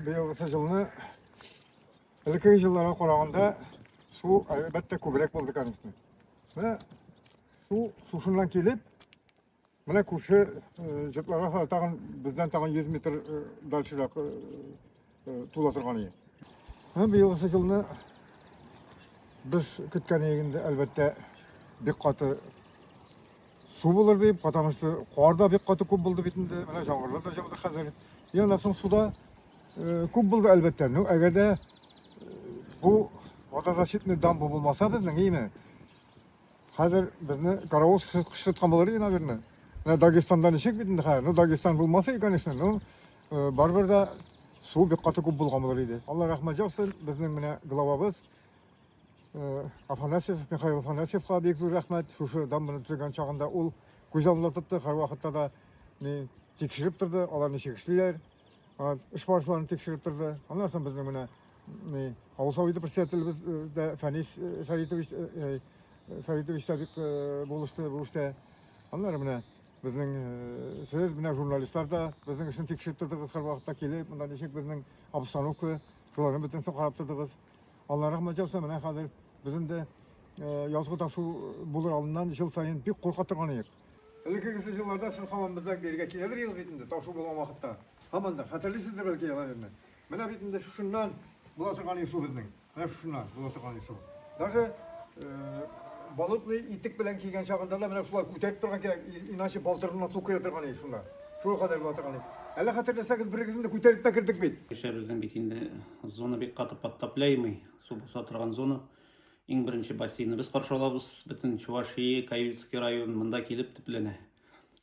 Быелгысы җылны элеккеге җылларга караганда су әлбәттә күбрәк булды, конечно. Менә су шушыннан килеп, менә күрше җыпларга тагын бездән тагын 100 метр дальшерак тула торган иде. Менә быелгысы җылны без көткән инде әлбәттә бик каты Су булыр дип, потому что кар да бик каты күп булды бит инде. Менә яңгырлар да жауды хәзер. И аннан соң суда э, күп булды әлбәттә. Ну, әгәр дә э, бу водозащитный дамба булмаса безнең, име? Хәзер безне каравыл кыштыткан булыр иде, наверное. Менә Дагестанда ничек бит инде хәзер? Ну, Дагестан булмаса и, конечно, ну, э, барыбер дә су бик каты күп булган булыр иде. Алла рәхмәт яусын, безнең менә главабыз Э, Афанасьев, Михаил Афанасьевка бик зур рәхмәт. Шушы дамбаны төзегән чагында ул күз алдында тотты, һәрвакытта да ни тикшереп торды, алар ничек эшлиләр, эш барышларын тикшереп торды. Аннан соң безнең менә ни авыл советы председателебез э, дә Фәнис э, Фәритович Фәритович та бик булышты бу эштә. Аннары менә безнең сез менә журналистлар да безнең эшне тикшереп тордыгыз һәрвакытта килеп, монда ничек безнең обстановка, шуларны бөтенесен карап тордыгыз. Аллага рәхмәт яусын, менә хәзер без инде язгы ташу булыр алдыннан ел саен бик курка торган идек. Элекке кесе җылларда сез һаман бездә бергә килә бер ел бит инде, ташу булган вакытта. Һаман да хәтерлисездер бәлки яланезне. Менә бит инде шушыннан була торган ису безнең. Менә шушыннан була торган ису. Даже болотный итек белән кигән чагында да менә шулай күтәреп торган кирәк, иначе балтырына су керә торган иде шунда. Шул кадәр була торган иде. Әллә хәтерләсәгез, берегезне күтәреп тә кердек бит. Кешебезнең бит инде Зона бик каты подтопляемый, су баса торган зона. Иң беренче бассейны без каршы алабыз. Бөтен Чувашия, Каюцкий район монда килеп төпләнә.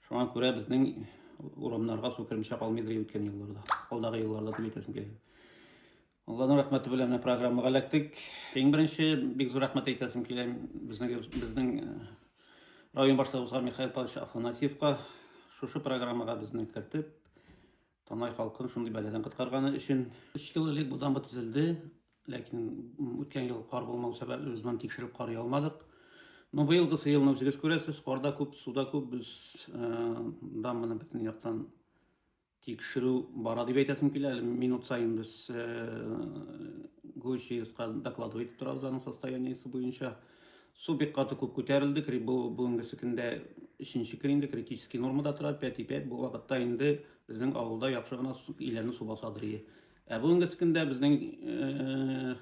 Шуңа күрә безнең урамнарга су кермичә калмыйдыр үткән елларда. Алдагы елларда дип әйтәсем килә. Алланың рәхмәте белән менә программага эләктек. Иң беренче бик зур рәхмәт әйтәсем килә безнең безнең э, район башлыгыбызга Михаил Павлович Афанасьевка шушы программага безне кертеп, Танай халкын шундый бәладән коткарганы өчен. Өч ел элек бу дамба төзелде, ләкин үткән ел кар булмау сәбәпле без моны тикшереп карый алмадык. Но быелгы елны үзегез күрәсез, карда күп, суда күп, без дамбаны бөтен яктан тикшерү бара дип әйтәсем килә. Әле минут саен без ГОЧИСка докладывать итеп торабыз аның состояниесе буенча. Су бик каты күп күтәрелде, бу бүгенгесе көндә өченче көн инде критический нормада тора, пәти пәт бу вакытта инде безнең авылда яхшы гына иләнне су басадыр ие. Ә бүгенгесе көндә безнең э,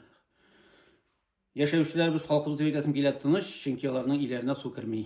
яшәүчеләребез халкыбыз дип әйтәсем килә тыныч, чөнки аларның иләренә су керми.